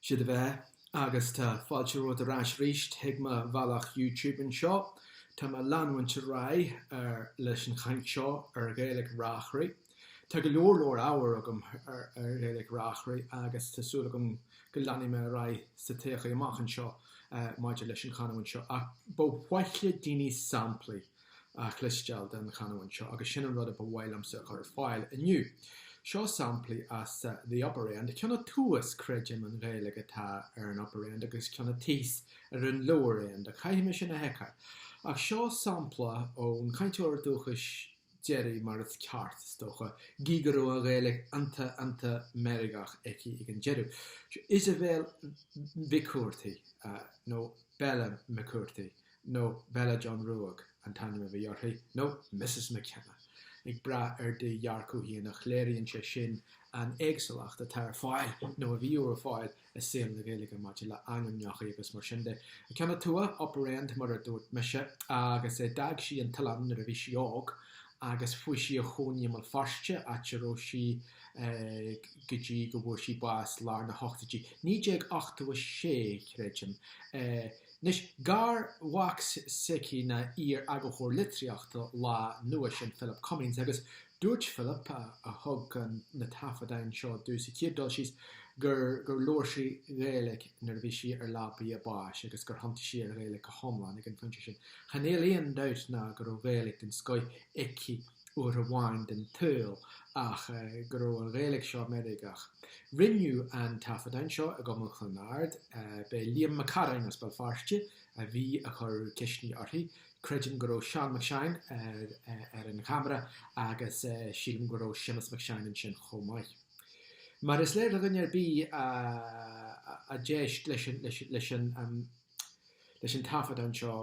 'Sé do bheatha agus tá fáilte romhat ar ais arís chuig mo bhealach YouTube anseo. Tá mé ag leanúint ar aghaidh ar leis an chaint seo ar Ghaeilg Reachraí. Tá go leor leor ábhair agam ar ar Ghaeilg Reachraí agus tá súil agam go leanfaidh mé ar aghaidh sa todhchaí amach anseo maidir leis an chanúint seo ach ba mhaith le daoine samplaí chloisteáil den chanúint seo agus sin an rud a ba mhaith liomsa a chur ar fáil inniu. Seo samplaí as The Upper End, Ceann a Tuas, creidim, an Ghaeilg atá ar an Upper End agus Ceann a Tíos ar an Lower End, ach caithfidh mé sin a sheiceáil. Ach seo sampla ón chainteoir dúchais deiridh, mar is ceart, is dócha, gí go raibh an Ghaeilg iontach iontach meirgeach aici ag an deireadh. Seo Isabel Mhic Cuartaigh, nó Bella McCurdy nó Bella John Ruaidh an t-ainm a bhí uirthi, nó Missus McKenna, ag brath ar do dhearcadh féin ach léiríonn sé sin an éagsúlacht atá ar fáil, nó a bhíodh ar fáil, i saol na Gaeilge maidir le ainmneacha agus mar sin de. Ceann a Tua, Upper End mar a dúirt mise, agus d'fhág sí an t-oileán nuair a bhí sí óg agus fuaigh sí a chónaí i mBéal Feirste, áit a raibh sí go dtí go bhfuair sí bás lár na hochtóidí, 1986, creidim. Anois, garmhac s'aici ná iar-eagarthóir litríochta Lá Nua, sin Philip Cummings, agus dúirt Philip, a thug na taifeadáin seo domh sa chéad dul síos, gur labhair sí Gaeilge nuair a bhí sí ar leabaidh a báis agus gur thiontaigh sí ar Ghaeilge go hiomlán ag an phointe sin. Chan fheil aon dabht ná go raibh Gaeilge den scoith aici. uair amháin den tsaol ach go raibh an Ghaeilge seo meirgeach. Rinneadh an taifeadán seo i gCumann Chluain Ard. B'é Liam Mac Carráin as Béal Feirste a bhí ag cur ceisteanna uirthi. Creidim go raibh Seán Mac Seáin ar an cheamara agus sílim go raibh Séamus Mac Seáin ansin chomh maith. Mar is léir do dhuine ar bith a d'éist leis an taifeadán seo,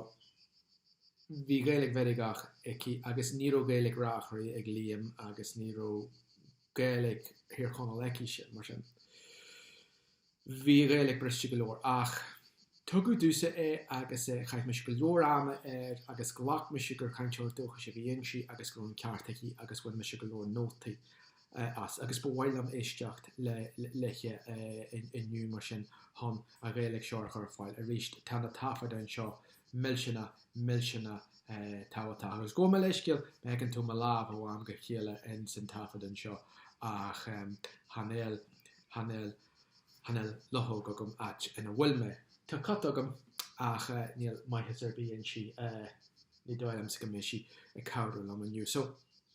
Bhí Gaeilg mheirgeach aici agus ní raibh Gaeilg Reachraidh ag Liam agus ní raibh Gaeilg Thír Chonaill aicise, mar sin. Bhí an Ghaeilg briste go leor. Ach tugadh domhsa é agus eh chaith mise go leor ama air agus ghlac mise gur cainteoir dúchais a bhí inti agus go raibh an ceart aici agus bhain mise go leor nótaí as, agus ba mhaith liom éisteacht léithe inniu, mar sin, chun an Ghaeilg seo a chur ar fáil arís. Tá na taifeadáin seo millteanach, millteanach tábhachtach. Agus gabh mo leithscéal, má fheiceann tú mo lámh ó am go chéile ins an taifeadán seo, ach chan fheil, chan fheil, chan fheil luchóg agam áit ina bhfuil mé. Tá cat agam, ach níl maitheas ar bith inti, ní dóigh liomsa go mbeidh sí ag cabhrú liom inniu. So.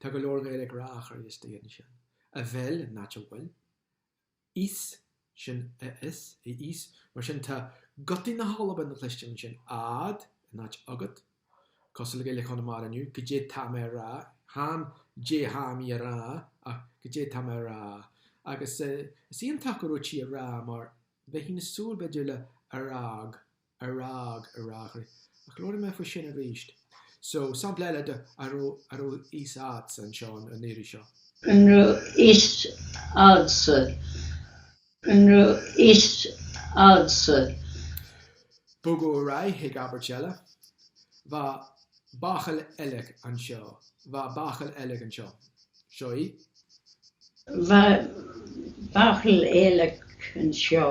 Tá go leor Gaeilge Reachraidh istigh ansin. A bheil, in áit a bhfuil. fhios, sin a fhios, a fhios, mar sin tá gutaí na hAlban le cluinstin ansin, a'd, in áit agat. Cosúil le Gaeilge Chonamara inniu, go dé tá mé a rá, chan dé tha mi a rá, ach go dé tá mé a rá. Agus is iontach gur dhúirt sí a rá mar bheifí ag súil b'fhéidir le a rádh. A rádh, a rádh. Ach labhróidh mé faoi sin arís. So, sampla eile de a raibh a raibh fhios a'dsa anseo an an iarraidh seo. An raibh fhios a'dsa? An raibh fhios a'dsa? Bogadh ar aghaidh chuig abairt eile. Bha bachall eilig anseo. Bha bachall eilig anseo. Seo í. Bha bachall eilig anseo.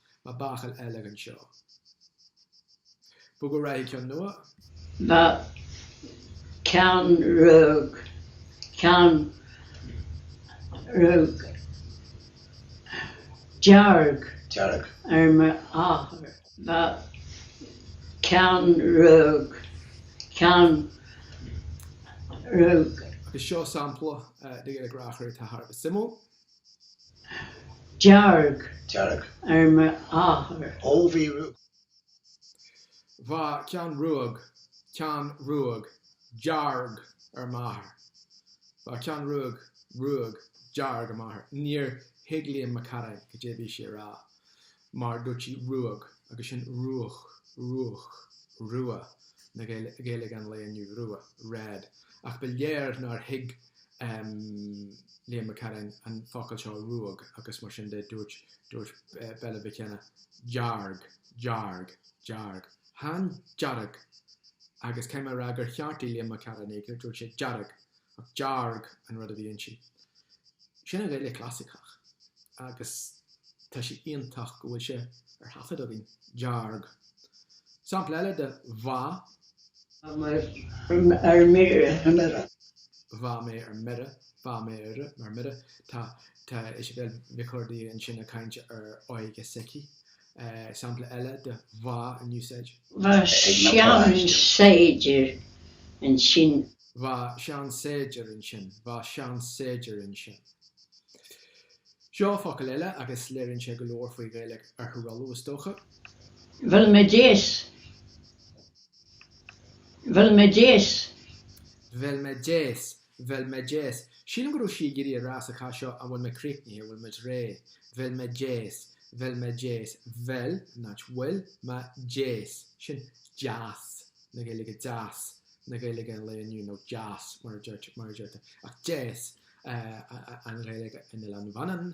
Bha bachall eilig anseo. Bogadh ar aghaidh, ceann nua. Bha ceann ruadh ceann ruadh dearg dearg ar m'athair. Bha ceann ruadh ceann ruadh. Agus seo sampla de Ghaeilge Reachraidh atá thar a bheith suimiúil. dearg dearg. ar m'athair. Ó bhí rua. Bha ceann ruadh ceann ruadh dearg ar m'athair. Bha ceann ruadh ruadh dearg ar m'athair. Níor thuig Liam Mac Carráin cad é bhí sí a rá. mar dúirt sí ruag agus sin ruadh, ruadh, rua, na Gaeilge an lae inniu, rua, red, ach ba léir nár thuig Liam Mac Carráin an focal seo ruag agus mar sin de dúirt Bella Mhic Cionnaith dearg, dearg, dearg, chan dearg agus cé mar ea gur cheartaigh Liam Mac Carráin í, dúirt sé dearg Ach dearg an rud a bhí inti. Sin an Ghaeilge Chlasaiceach agus tá sé iontach go bhfuil sé ar thaifead againn. Dearg. Sampla eile de Bha. mé ar mire. Bha mé ar mire. Bha mé ar mire. Tá Tá Isibéal Nic Cordaí ansin ag caint ar óige s'aici Sampla eile de bha in úsáid. Bha seansaighdiúir ansin. Bha seansaighdiúir ansin. Bha seansaighdiúir ansin. Seo focal eile agus léiríonn sé go leor faoi Ghaeilge Oirthear Uladh is dócha. Bhfuil mé deas? Bhfuil mé deas? Bhfuil mé deas? Bheil mé deas? Sílim go raibh sí ag iarraidh a rá sa chás seo An bhfuil mé críochnaithe? An bhfuil muid réidh? Bheil mé deas? Bheil mé deas? Bheil, not bhfuil, mé deas? Sin deas na Gaeilge deas na Gaeilge an lae inniu, nó deas mar a deirtear, ach deas an Ghaeilge in Oileán Mhanann,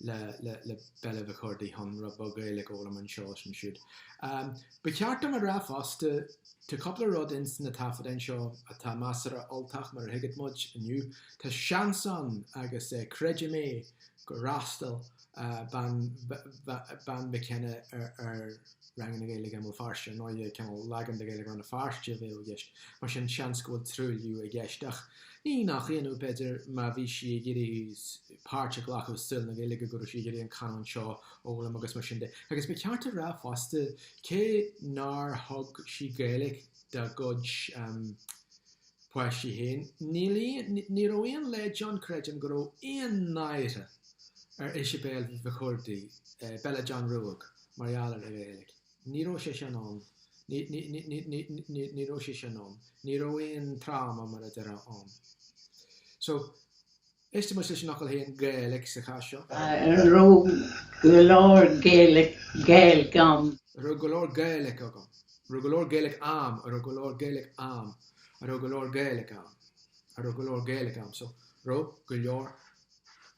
le Bella Mhic Curdaigh chun rud beag Gaeilge a fhoghlaim anseo is ansiúd. Ba cheart dom a rá fosta, tá cúpla rud ins na taifeadáin seo atá measartha Ultach mar a thuigfeadh muid inniu. Tá seans ann agus creidim é gur fhreastail Bean McKenna ar ranganna Gaeilge i mBéal Feirste ar ndóigh, eh, cineál leagan de Gaeilge Rann na Feirste a bheadh i gceist. Mar sin seans go bhfuil truailliú i gceist ach ní nach ionadh b'fhéidir má bhí sí ag iarraidh páirt a ghlacadh i saol na Gaeilge go raibh sí ag iarraidh an canúint seo a fhoghlaim agus mar sin de. Agus ba ceart a rá fosta cé nár thug sí Gaeilge dá cuid um, páistí féin, ní raibh aon leid ann creidim go raibh aon náire ar Isibéal Mhic Churdaigh, eh, Bella John Ruadh. mar gheall ar an Ghaeilge. Ní raibh sé sin ann, ní raibh sé sin ann, ní raibh aon tráma mar a deirfeá ann. So, éistigh muid leis an fhocal féin Gaelic sa chás seo. An raibh go leor Gaelic ann? An raibh go leor Gaelic agam? An raibh go leor Gaelic a'am? An raibh go leor Gaelic a'm? An raibh go leor Gaelic ann? An raibh go leor Gaelic a'm? So, raibh go leor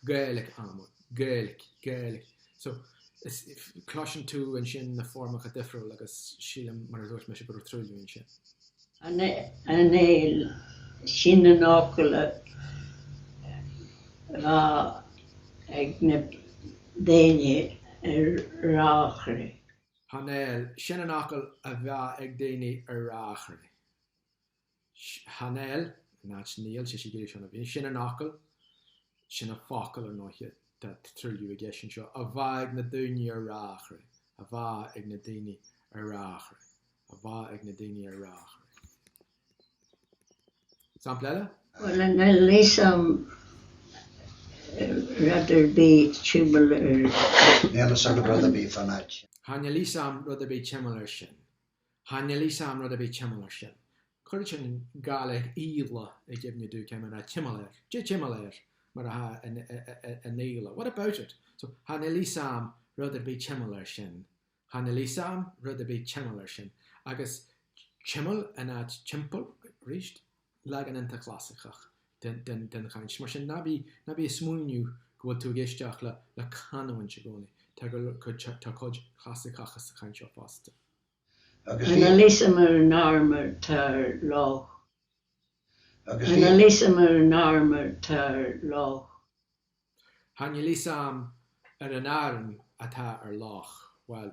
Gaelic a'm, Gaelic, Gaelic. So, is, cloiseann tú ansin na foirmeacha difriúla agus sílim, mar a dúirt mise, go raibh truailliú ansin. Chan eil sin an fhocal a bha ag na daoine ar Reachraidh. Chan eil sin an fhocal a bheadh ag daoine ar Reachraidh. Chan eil, in áit níl, sé siad uilig seo na daoine, sin an fhocal, sin an focal ar ndóiche, tá truailliú i gceist anseo, a bha ag na daoiní ar Reachraidh, a bha ag na daoiní ar Reachraidh, a bha ag na daoiní ar Reachraidh. Sampla eile? Well, chan eil fhios a'm rud ar bith timeall ar... Níl fhios a'm rud ar bith fán áit. Chan eil fhios a'm rud ar bith timeall ar sin. Chan eil fhios a'm rud ar bith timeall ar sin. Chuir sin Gaeilge Íle i gcuimhne domh, ciamar a, timeall air, dé timeall air, mar a tha an Íle, what about it? So, chan eil fhios a'm rud ar bith timeall ar sin. Chan eil fhios a'm rud ar bith timeall ar sin. Agus timeall in áit timpeall, aríst. leagan iontach clasaiceach den chaint. Mar sin, ná bí ag smaoineamh go bhfuil tú ag éisteacht le canúint i gcónaí, tá cuid chlasaiceach sa chaint seo fosta. Chan fheil fhios am ar an airm atá ar loch. Chan fheil fhios am ar an airm atá ar loch, bhuel,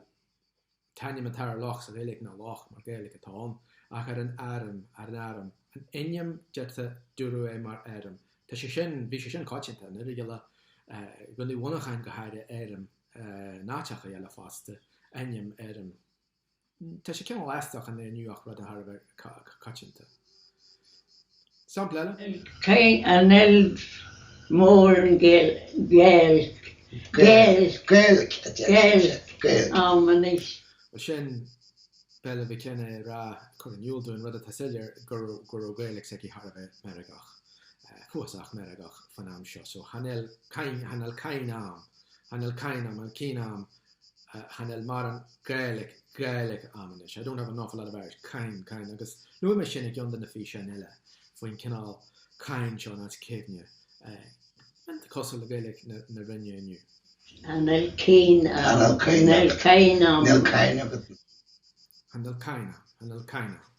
t-ainm atá ar loch sa Ghaeilge ná loch, mar Gaeilge atá ann, ach ar an airm, ar an airm, an ainm deirtear, dúradh é mar airm, tá sé sin, bhí sé sin coitianta in Oirialla, i gContae Mhuineacháin go háirithe, airm, in áiteacha eile fosta, ainm, airm. Tá sé cineál aisteach inniu ach rud thar a bheith coitianta. Sampla eile? Chan fheil mórán Gaeilge am anois. Bhuel, sin Bella McKenna ag rá, ag cur in iúl dúinn rud atá soiléir, go raibh Gaeilge s'aici thar a bheith meirgeach, cuíosach meirgeach, fán am seo. So chan fheil, chan fheil, chan fheil cuimhne am, chan fheil chan fheil, chan fheil cuimhne am, channel mar an Gaelic, Gaelic am anois, I don't have an awful lot of Irish, caim, caim, agus luaim é sin i gceann de na físeáin eile faoin chineál caim seo as cuimhne, an cosúil le Gaelic na Rinne inniu. channel cain am, channel cain am, channel cain am. channel cain am, channel cain am.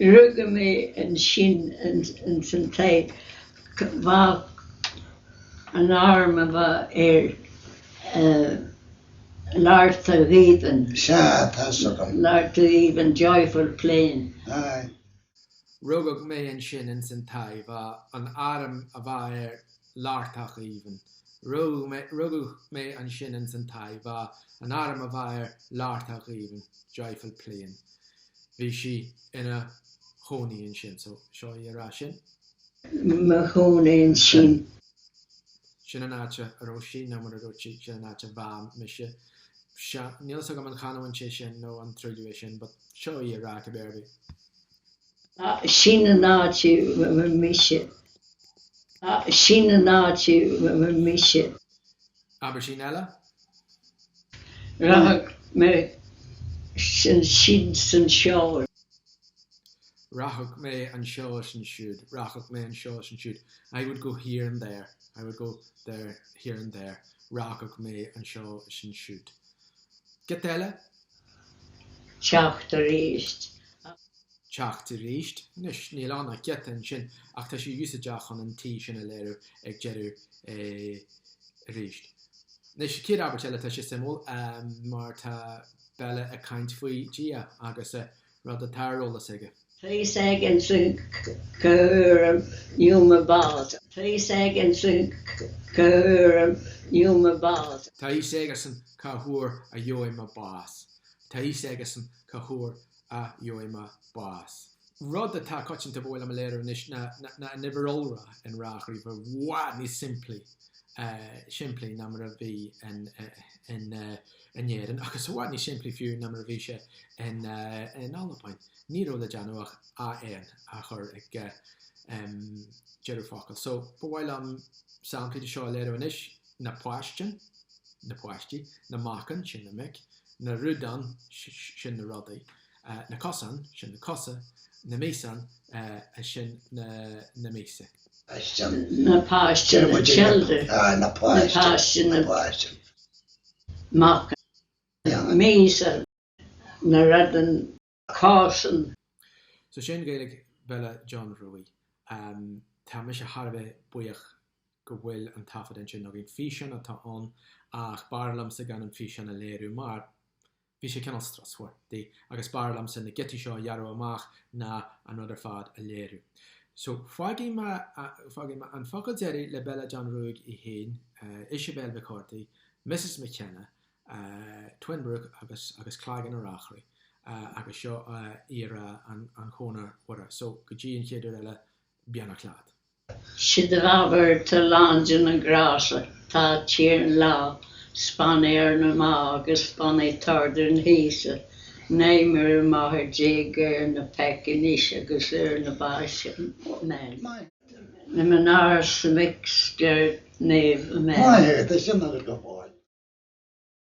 Rugadh mé ansin ins an taigh bha an airm a bha air Lartach Aoibhinn, Sea, tá's agam. Lartach Aoibhinn, Joyful Plain. Aye. Rugadh mé ansin ins an taigh bha an airm a bha air Lartach aoibhinn. Rugadh mé ansin ins an taigh bha an airm a bha air Lartach aoibhinn, joyful plain. Bhí sí ina chónaí ansin. So, seo í ag rá sin. Mo chónaí ansin. Sin an áit a raibh sí nó mura raibh sí, sin an áit a bha mise. Níl 's agam an canúint é sin nó an truailliú é sin but seo í á rá cibé ar bith. Abairtín eile? Rachadh mé ansin 's ansiúd. Rachadh mé anseo is ansiúd. Rachadh mé anseo is ansiúd. I would go here and there. I would go there, here and there. Rachadh mé anseo is ansiúd. Giota eile? teacht aríst. teacht aríst. Anois, níl ann ach giota ansin ach tá sé úsáideach chun an t sin a léiriú ag deireadh aríst. Anois, sa chéad abairt eile tá sé suimiúil mar tá Bella ag caint faoi Dhia agus rud atá ar eolas aige. Tá fhios aigesan cá huair a gheobhaidh mé bás. Tá fhios aigesan cá huair a gheobhaidh mé bás. Tá fhios aigesan cá huair a gheobhaidh mé bás. Tá fhios aigesan cá huair a gheobhaidh mé bás. Rud atá coitianta ba mhaith liom a léiriú anois ná an uimhir iolra in Reachraidh, i bhfad níos simplí simplí ná mar a bhí in in Éirinn, agus i bhfad níos simplí fiú ná mar a bhí sé in Albain. Ní raibh le déanamh ach AN a chur ag deireadh focail. So, ba mhaith liom samplaí de seo a léiriú anois, na páistean, na páistí, na macan, sin na mic, na rudan, sin na rudaí, na cosan, sin na cosa. na míosan, sin na míosa. na páistean, na children. na páistean, na páistean. macan, míosan, na rudan, cosan. So sin Gaeilge Bhella John Ruaidh. Tá mise thar a bheith buíoch go bhfuil an taifead ansin againn. Físeán atá ann ach b'fhearr liomsa gan an físeán a léiriú mar, Bhí sé cineál strusmhar di, agus b'fhearr liomsa na giotaí seo a ghearradh amach ná an rud ar fad a léiriú. So, fágfaidh mé, fágfaidh mé an focal deiridh le Bella John Ruaidh í féin, Isibéal McCurdy, Missus McKenna, Twinbrook agus, agus Claigeann a Reachraidh agus seo í ag rá an Chonair Mhuire. So, go dtí an chéad uair eile, beannacht leat. Sid a labhairt a lán de na grása tá tír an lá, 's bain éar na má agus bain é t'árdú na haoise, naoi mire máthair déag éar na peic anois agus éar na báis amen. Na mná 's na mic 's deir Naomh Amen. Maith é, tá sin agat go fóill.